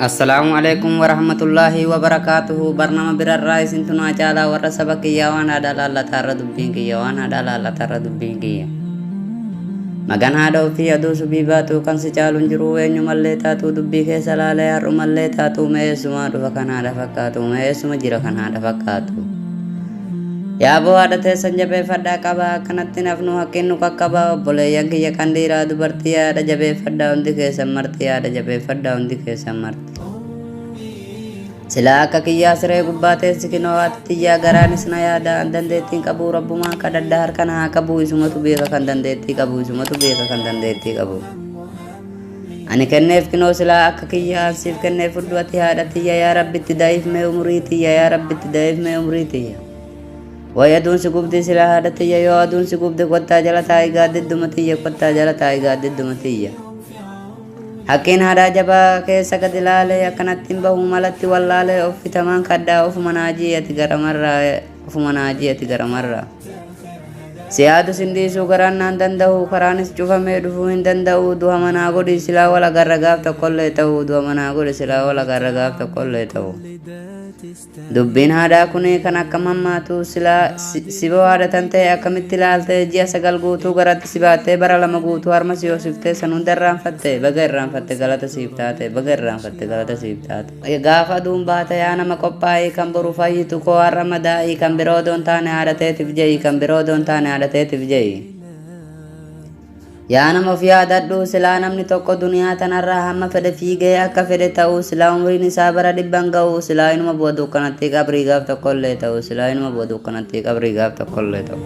Assalaamu alaikum warahmatullaahi wabarakaatuhu barnama birarraa isintu naa caalaa warra saba kiyyaa waan haadha laallataa irra dubbiin kiyya waan haadha laallataa irra dubbiin kiyya. Magan haadha ofii aduu subii baatuu kan si caalu hin jiru eenyumallee taatuu dubbii keessa laalee har'umallee taatuu me'eessumaa dhufa kan haadha fakkaatu me'eessuma jira kan haadha fakkaatu. Yaaboo haadha teessan jabeeffadhaa qabaa akkanatti hin hafnu haqqiin nu qaqqabaa obboleeyyan kiyya kan dhiiraa dubartii haadha jabeeffadhaa hundi keessan marti haadha jabeeffadhaa hundi keessan marti. Silaa akka kiyyaa siree gubbaa teessi kinoo haati tiyyaa garaanis na yaada an dandeettiin qabuu rabbumaan kadhadha harka na haa qabuu isumatu beeka kan dandeettii qabu isumatu beeka kan dandeettii qabu. ani kenneef kinoo silaa akka kiyya an siif kenneef fudhu ati haadha tiyya yaa rabbitti da'iif mee umurii tiyya yaa rabbitti da'iif mee umurii tiyya way aduun si gubdii silaa haadha tiyya yoo aduun si gubde kottaa jala taa'i gaaddidduma tiyya kottaa jala taa'i gaaddidduma tiyya Hakkiin haadhaa jabaa keessa gad ilaalee akkanatti hin bahu malatti wallaalee of fitamaan kadhaa ofuma naajii ati garamarraa ofuma naajii ati garamarra si yaadu sin dhiisuu garaan naan danda'u karaanis cufamee dhufuu hin danda'u du'a manaa godhi silaa wal agarra gaaf tokkollee ta'u du'a manaa godhi silaa wal agarra gaaf tokkollee ta'u dubbiin haadhaa kun kan akkam hammaatu silaa si- siba waadatan ta'e akkamitti ilaalte ji'a sagal guutuu garatti si baattee bara lama guutuu harma si hoosiftee san hunda irraanfatte baga irraanfatte galata siif taate baga irraanfatte galata siif taate Gaafa aduun baate yaa nama qophaa'ii kan boru fayyitu koo har'a madaa'ii kan biroo doon taane haadha teetif je'i kan biroo doon taane haadha teetif je'i. Yaa nama of yaadadhu silaa namni tokko duniyaa tanarraa hamma fedhe fiigee akka fedhe ta'u silaa umriin isaa bara dhibban ga'u silaa inuma bu'a dukkanattii qabrii gaaf tokkollee ta'u silaa inuma bu'a dukkanattii qabrii gaaf tokkollee ta'u.